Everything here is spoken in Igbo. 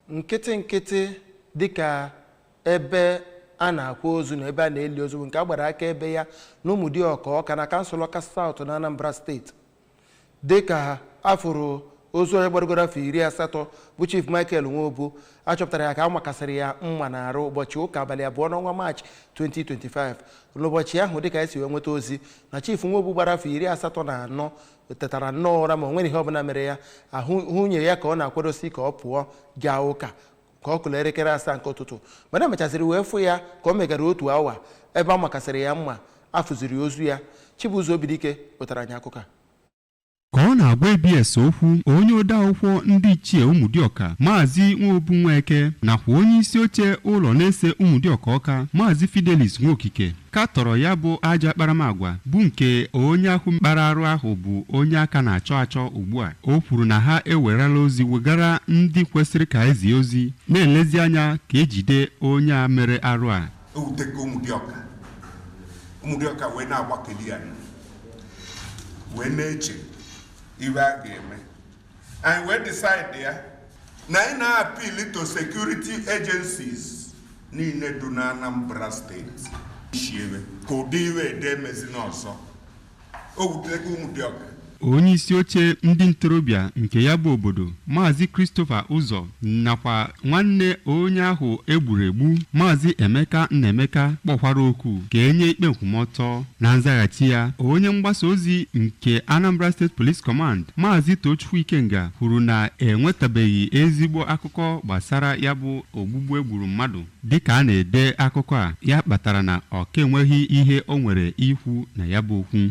nkịtị nkịtị dịka ebe a na-akwa ozu na ebe a na-eli ozu bụ nke a gbara akaebe ya na ụmụdịọka ọka na kansụl ọka south na anambra steeti dịka afụrụ ozu onye gbarugoro afọ iri asatọ bụ chief michael nwobu achọpụtara ya ka a makasịrị ya mma na arụ ụbọchị ụka abalị abụọ n'ọnwa maachị 2025 n'ụbọchị ahụ dịka esi wee nweta ozi na chief nwobu gbara afọ iri asatọ na anọ o tetara nnọọ ụra ma o nwere ihe ọbụla mere ya ahụ nwunye ya ka ọ na-akwadosi ka ọ pụọ gaa ụka ka ọ kụla elekere asaa nke ụtụtụ mana emechaziri wee fụ ya ka ọ megara otu awa ebe a makasịrị ya mma afụziri ozu ya Chibuzo Obidike wetara anyị akụkọ a ka ọ na-agwa ABS okwu onye odeakwụkwọ ndị ichie ụmụdịọka maazị nwobu nweke nakwa onye isi oche ụlọ na-ese ụmụdịọka ọka maazị Fidelis Nwokike katọrọ ya bụ ajọ akparamagwa bụ nke onye ahụ kpara arụ ahụ bụ onye aka na-achọ achọ ugbu a o kwuru na ha ewerela ozi wegara ndị kwesịrị ka ezie ozi na-elezi anya ka ejide onye a mere arụ a ewuteka ụmụdịọka ụmụdịọka wee na-agbakeli ya wee na-eche ive a ga-eme anyị wee decide ya na anyị na-appeal to security agencies niile du na Anambra steeti chiebe ka ụdị ive ede emezi n'ọzọ o wutere ụmụdịọka onye isi oche ndị ntorobịa nke ya bụ obodo maazị Christopher Ụzọ nakwa nwanne onye ahụ egburu egbu maazị emeka nnaemeka kpọkwara oku ka enye ikpe nkwụmọtọ na nzaghachi ya onye mgbasa ozi nke anambra state police command maazị tochukwu ikenga kwuru na enwetabeghị ezigbo akụkọ gbasara ya bụ ogbugbu egburu mmadụ dịka a na-ede akụkọ a ya kpatara na ọ ka enweghị ihe o nwere ikwu na ya bụ okwu